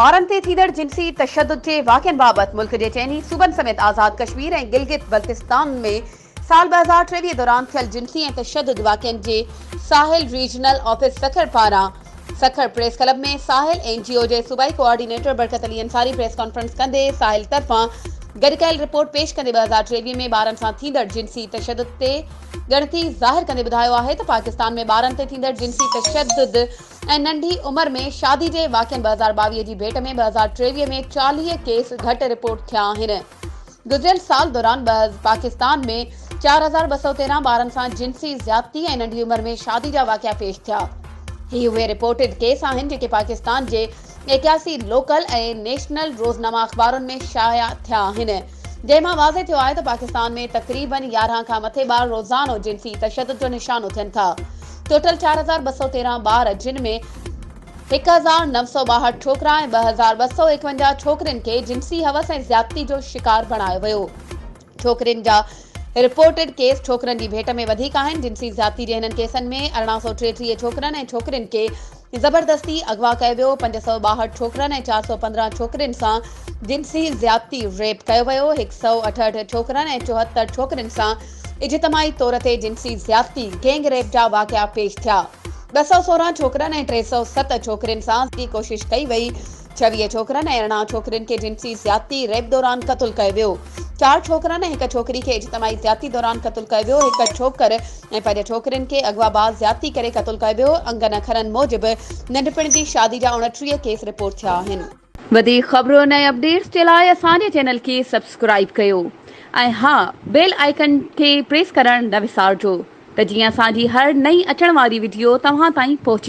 ٻارن تي ٿيندڙ جنسي تشدد جي واقعن بابت ملڪ جي چئني صوبن سميت آزاد ڪشمير ۽ گلگت بلتستان ۾ سال ٻه هزار ٽيويهه دوران ٿيل جنسي ۽ تشدد واقعن جي ساحل ريجنل آفيس سکر پاران Sukkur press club ۾ Sahil N G O جي صوبائي coordinator Barkat Ali Ansari press conference ڪندي ساحل طرفان گڏ ڪيل رپورٽ پيش ڪندي ٻه هزار ٽيويهه ۾ ٻارن سان ٿيندڙ جنسي تشدد تي ڳڻتي ظاهر ڪندي ٻڌايو آهي ته پاڪستان ۾ ٻارن تي ٿيندڙ جنسي تشدد ۽ ننڍي عمر ۾ شادي جي واقعن ٻه هزار ٻاويهه جي ڀيٽ ۾ ٻه هزار ٽيويهه ۾ چاليهه ڪيس گهٽ رپورٽ ٿيا آهن گذريل سال دوران پاڪستان ۾ چار هزار ٻه سؤ تيرهن ٻارن سان جنسي زيادتي ۽ ننڍي عمر ۾ شادي جا واقعا پيش ٿيا. هي اهي رپورٽڊ ڪيس آهن جيڪي پاڪستان جي ايڪياسي لوڪل ۽ نيشنل روزنامه اخبارن ۾ شايع ٿيا آهن جنهن مان واضح ٿيو آهي ته پاڪستان ۾ تقريباً يارهن کان مٿي ٻار روزانو جنسي تشدد جو نشانو ٿين ٿا. ٽوٽل چار هزار ٻه سؤ تيرهن ٻار جن ۾ هڪ هزار نو سؤ ٻاهٺ ڇوڪرا ۽ ٻه هزار ٻه سؤ ايڪونجاهه ڇوڪرين کي جنسي هوس ۽ زيادتي جو شڪار بڻايو ويو. ڇوڪرين جا رپورٽڊ ڪيس ڇوڪرن جي ڀيٽ ۾ وڌيڪ آهن. جنسي زيادتي جي هنن ڪيسن ۾ ارڙهن سؤ ٽيٽيهه ڇوڪرن ۽ ڇوڪرين کي زبردستي اغوا ڪيو ويو، پنج سؤ ٻاهٺ ڇوڪرن ۽ چار سؤ پندرهن ڇوڪرين سان جنسي زيادتي، Rape، ڪيو ويو، هڪ سؤ اٺهٺ ڇوڪرن ۽ چوهتر ڇوڪرين سان اجتماعي طور تي جنسي زيادتي، گينگ ريپ جا واقعا پيش ٿيا. ٻه سؤ سورهن ڇوڪرن ۽ ٽي سؤ ست ڇوڪرين سان زي ڪوشش ڪئي وئي. ڇويهه ڇوڪرن ۽ ارڙهن ڇوڪرين کي جنسي زيادتي، ريپ، دوران قتل ڪيو ويو. چار ڇوڪرن ۽ هڪ ڇوڪري کي اجتماعي زيادتي دوران قتل ڪيو ويو. هڪ ڇوڪر ۽ پنج ڇوڪرين کي اغوا بعد زيادتي ڪري قتل ڪيو ويو. انگن اکرن موجب ننڍپڻ جي شادي جا اوڻٽيهه ڪيس رپورٽ ٿيا آهن. وڌيڪ خبرن ۽ اپڊيٽس جي لاء اسان جي چينل کي سبسڪرائيب ڪيو ۽ ها بيل آئيڪن کي پريس ڪرڻ نه وسارجو ته جيئن اسان جي هر نئين اچڻ واري وڊيو توهان تائين پهچي